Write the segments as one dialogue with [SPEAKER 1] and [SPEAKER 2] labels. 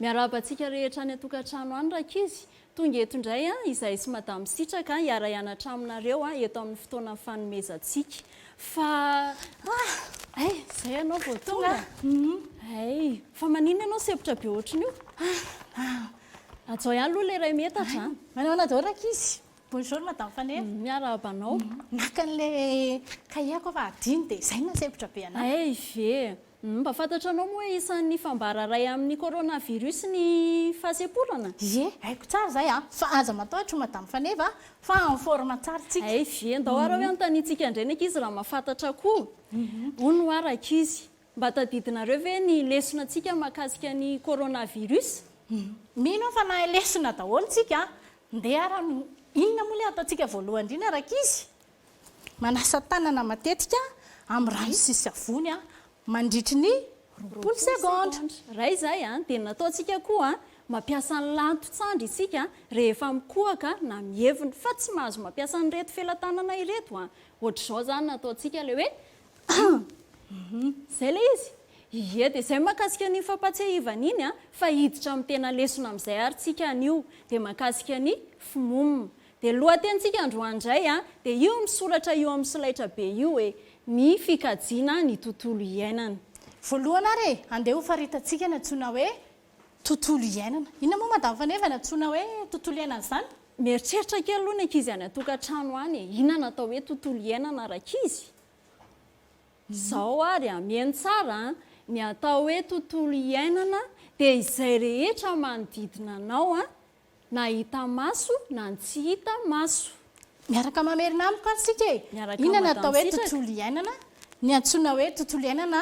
[SPEAKER 1] Miarahaba antsika rehetra any an-tokantrano any rankizy. Tonga eto indray aho, izahay sy Madame Sitraka hiara-hianatra aminareo eto amin'ny fotoana fanomezantsika. Fa Ah! Ay! Izay ianao vao tonga? Ay! Fa maninona ianao sempotra be ohatran'ny io? Ah! Ajao ihany aloha ilay iray metatra an! Manao ahoana daholo rankizy?
[SPEAKER 2] Bonjour Madame Faneva. Miarahaba anao.
[SPEAKER 1] Naka
[SPEAKER 2] an'ilay cahier-ko aho fa adino dia izay no nahasempotra be an'ahy. Ay! Ve? Mba
[SPEAKER 1] fantatranao moa hoe isan'ny fambara iray amin'ny coronavirus ny fahasemporana? Ye, haiko tsara
[SPEAKER 2] izay a! Fa aza matahotra Madame Faneva a! Fa en forme tsara tsika. Ay vie, ndao ary hoe
[SPEAKER 1] anontaniantsika indray ny ankizy raha mahafantatra koa. Hono ho'a rankizy, mba tadidinareo ve ny lesona antsika mahakasika ny coronavirus? Mino
[SPEAKER 2] aho fa nahay lesona daholo tsika a! Ndeha ary, inona moa ilay hataontsika voalohany indrindra rankizy? Manasa tanana matetika amin'ny rano sy savony mandritry ny roapolo segondra. Raha izay
[SPEAKER 1] dia ny nataontsika koa, mampiasa ny lanto-tsandry isika rehefa mikohaka na mievina fa tsy mahazo mampiasa an'ireto felatanana ireto. Ohatr'izao izany no ataontsika ilay hoe izay ilay izy. Ie, dia izay mahakasika an'iny fampahatsiahivana iny fa hiditra amin'ny tena lesona amin'izay ary tsika anio. Dia mahakasika ny fmum. Dia lohatenintsika androany indray dia io misoratra io amin'ny solaitra be io hoe, Ny fikajiana ny tontolo iainana. Voalohany ary e,
[SPEAKER 2] andeha ho faritantsika ny antsoina hoe tontolo iainana. Inona moa Madame Faneva ny antsoina hoe tontolo iainana izany? Mieritreritra kely
[SPEAKER 1] aloha ny ankizy any an-tokantrano any e, inona no atao hoe tontolo iainana rankizy? Izao ary hameno tsara an, ny atao hoe tontolo iainana dia izay rehetra manodidina anao Na hita maso na ny tsy hita maso. Miaraka
[SPEAKER 2] mamerina amiko ary isika e! Miaraka Inona no atao hoe madam-sitraka. tontolo iainana? Ny antsoina hoe tontolo iainana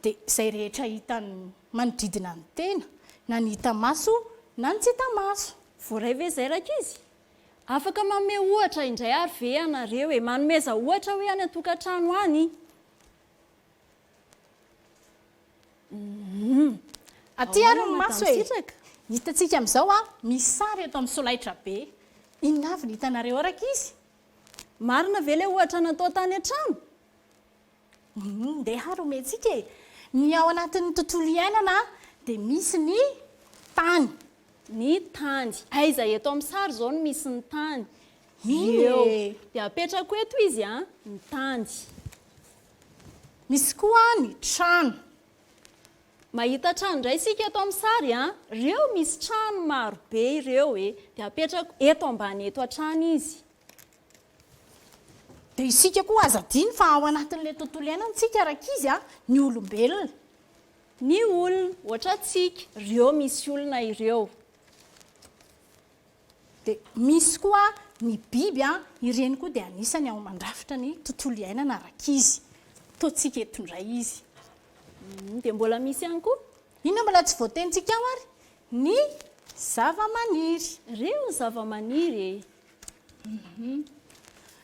[SPEAKER 2] dia izay rehetra hitan'ny manodidina ny tena, na ny hita maso na ny tsy hita maso. Voaray ve izay
[SPEAKER 1] rankizy? Afaka manome ohatra indray ary ve ianareo e? Manomeza ohatra hoe any an-tokantrano any.
[SPEAKER 2] Humm. Aty ary ny maso e! Hitantsika amin'izao a, misy sary eto amin'ny solaitrabe. Inona avy no hitanareo ao rankizy? Marina
[SPEAKER 1] ve ilay ohatra natao tany an-trano? Humm,
[SPEAKER 2] ndeha ary omentsika e! Ny ao anatin'ny tontolo iainana dia misy ny tany. Ny
[SPEAKER 1] tany. Aiza eto amin'ny sary izao no misy ny tany? Io e! Dia apetrako eto izy an, ny tany. Misy
[SPEAKER 2] koa ny trano.
[SPEAKER 1] Mahita trano indray isika eto amin'ny sary a! Ireo misy trano maro be ireo e! Dia apetrako eto ambany eto hatrany izy.
[SPEAKER 2] Dia isika koa aza adino fa ao anatin'ilay tontolo iainantsika rankizy a! Ny olombelona. Ny
[SPEAKER 1] olona, ohatra antsika, ireo misy olona ireo.
[SPEAKER 2] Dia misy koa ny biby, ireny koa dia anisany ao mandrafitra ny tontolo iainana ara-kizy. Ataontsika eto indray izy. Dia
[SPEAKER 1] mbola misy ihany koa. Inona mbola tsy
[SPEAKER 2] voatenintsika ao ary? Ny zava-maniry. Ireo ny
[SPEAKER 1] zava-maniry e!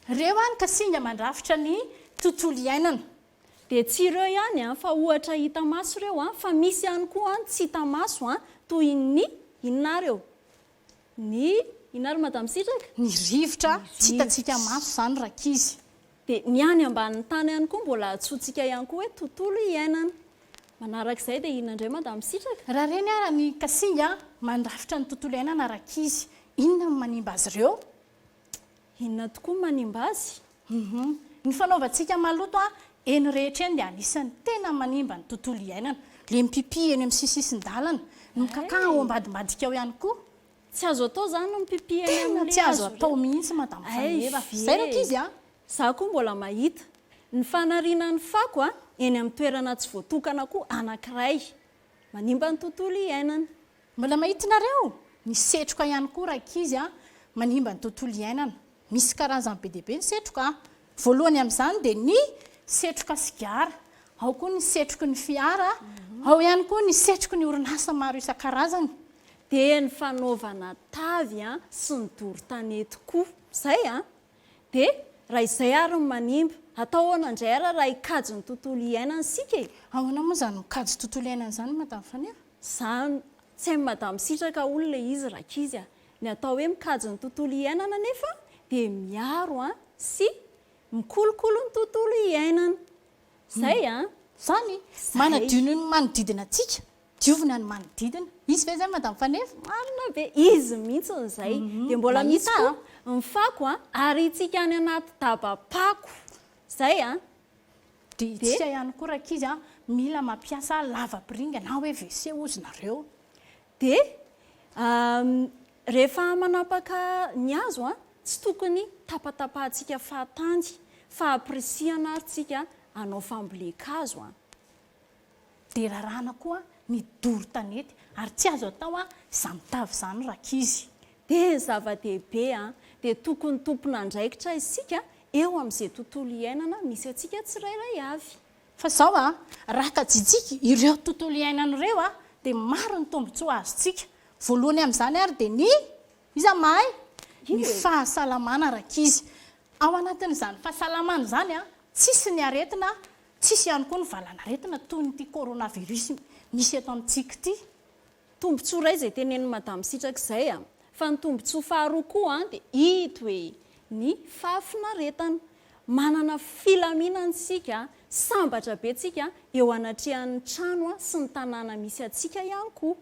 [SPEAKER 1] Ireo
[SPEAKER 2] any ka singa mandrafitra ny tontolo iainana. Dia tsy ireo
[SPEAKER 1] ihany an, fa ohatra hita maso ireo an, fa misy ihany koa an tsy hita maso an, toy ny, inona ary eo? ny, inona ary madame Sitraka? Ny rivotra,
[SPEAKER 2] tsy hitantsika maso izany rankizy. Dia ny any
[SPEAKER 1] ambanin'ny tany ihany koa mbola antsointsika ihany koa hoe tontolo iainana. Manarak'izay dia inona indray madame Sitraka? Raha ireny ary ny
[SPEAKER 2] kasinga mandrafitra ny tontolo iainana rankizy, inona no manimba azy ireo? Inona
[SPEAKER 1] tokoa no manimba azy? Humm. Ny
[SPEAKER 2] fanaovantsika maloto a eny rehetra eny dia anisan'ny tena manimba ny tontolo iainana. Ilay mipipi eny amin'ny sisisisin-dalana, ny mikakà ao ambadimbadika ao ihany koa. Tsy azo atao
[SPEAKER 1] izany ny mipipi eny amin'ny hazo ireny. Tena tsy azo atao mihitsy
[SPEAKER 2] madame Fanireva. Izay raha k'izy a! Izaho koa mbola
[SPEAKER 1] mahita. Ny fanariana ny fako a eny amin'ny toerana tsy voatokana koa anankiray. Manimba ny tontolo iainana. Mbola
[SPEAKER 2] mahitinareo? Ny setroka ihany koa rankizy a! manimba ny tontolo iainana. Misy karazany be dia be ny setroka a! voalohany amin'izany dia ny setroka sigara, ao koa ny setroky ny fiara, ao ihany koa ny setroky ny orinasa maro isan-karazany. Dia ny
[SPEAKER 1] fanaovana tavy a! sy ny doro tanety koa. Izay a! dia raha izay ary no manimba, atao ahoana indray ary raha hikajy ny tontolo iainana isika e? Ahoana moa izany mikajy
[SPEAKER 2] tontolo iainana izany Madame Faniry? Za
[SPEAKER 1] tsm mada misitraka olona le izy rankizy a! Ny atao hoe mikajy ny tontolo iainana nefa dia miaro an sy mikolokolo ny tontolo iainana! Zay
[SPEAKER 2] an! Zany! Manadio ny manodidina
[SPEAKER 1] antsika!
[SPEAKER 2] Diovina ny manodidina! Izy ve zay madame Faneva? Marina be! Izy
[SPEAKER 1] mihitsiny izay! Dia mbola misy koa ny fako an! Ariantsika any anaty daba-pako! Zay an!
[SPEAKER 2] Dia isika ihany koa rankizy a, mila mampiasa lavapiringa na hoe WC hozy nareo. Dia
[SPEAKER 1] rehefa manapaka ny hazo a, tsy tokony tapatapahantsika fahatany fa ampirisihana ary tsika hanao fambolen-kazo a.
[SPEAKER 2] Dia raràna koa ny doro tanety ary tsy azo atao izany tavy izany rankizy. Dia
[SPEAKER 1] zava-dehibe dia tokony tompon'andraikitra isika eo amin'izay tontolo iainana misy antsika tsirairay avy. Fa izao
[SPEAKER 2] raha tajintsika ireo tontolo iainana ireo dia maro ny tombontsoa azontsika. Voalohany amin'izany ary dia ny, iza mahay? ny fahasalamana rankizy. Ao anatin'izany fahasalamana izany tsisy ny aretina Tsy hisy ihany koa ny valanaretina toy ny ity coronavirus misy eto amintsika ity. Tombontsoa
[SPEAKER 1] iray izay tenenin'i Madame Sitraka izay fa ny tombontsoa faharoa koa dia ito e! ny fahafinaretana. Manana filaminana isika, sambatra be tsika eo anatrehan'ny trano sy ny tanàna misy antsika ihany koa.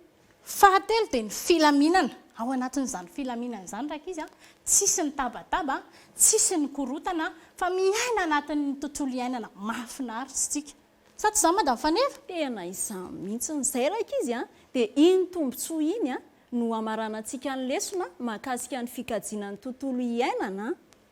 [SPEAKER 1] Fahatelo dia
[SPEAKER 2] ny filaminana, ao anatin'izany filaminana izany rankizy a, tsisy ny tabataba, tsisy ny korontana fa miaina anatin'ny tontolo iainana mahafinaritra isika. Sa tsy izany madame Faneva? Tena izany
[SPEAKER 1] mihitsy, izay rankizy a, dia iny tombotsoa iny no hamaranantsika ny lesona mahakasika ny fikajiana ny tontolo iainana.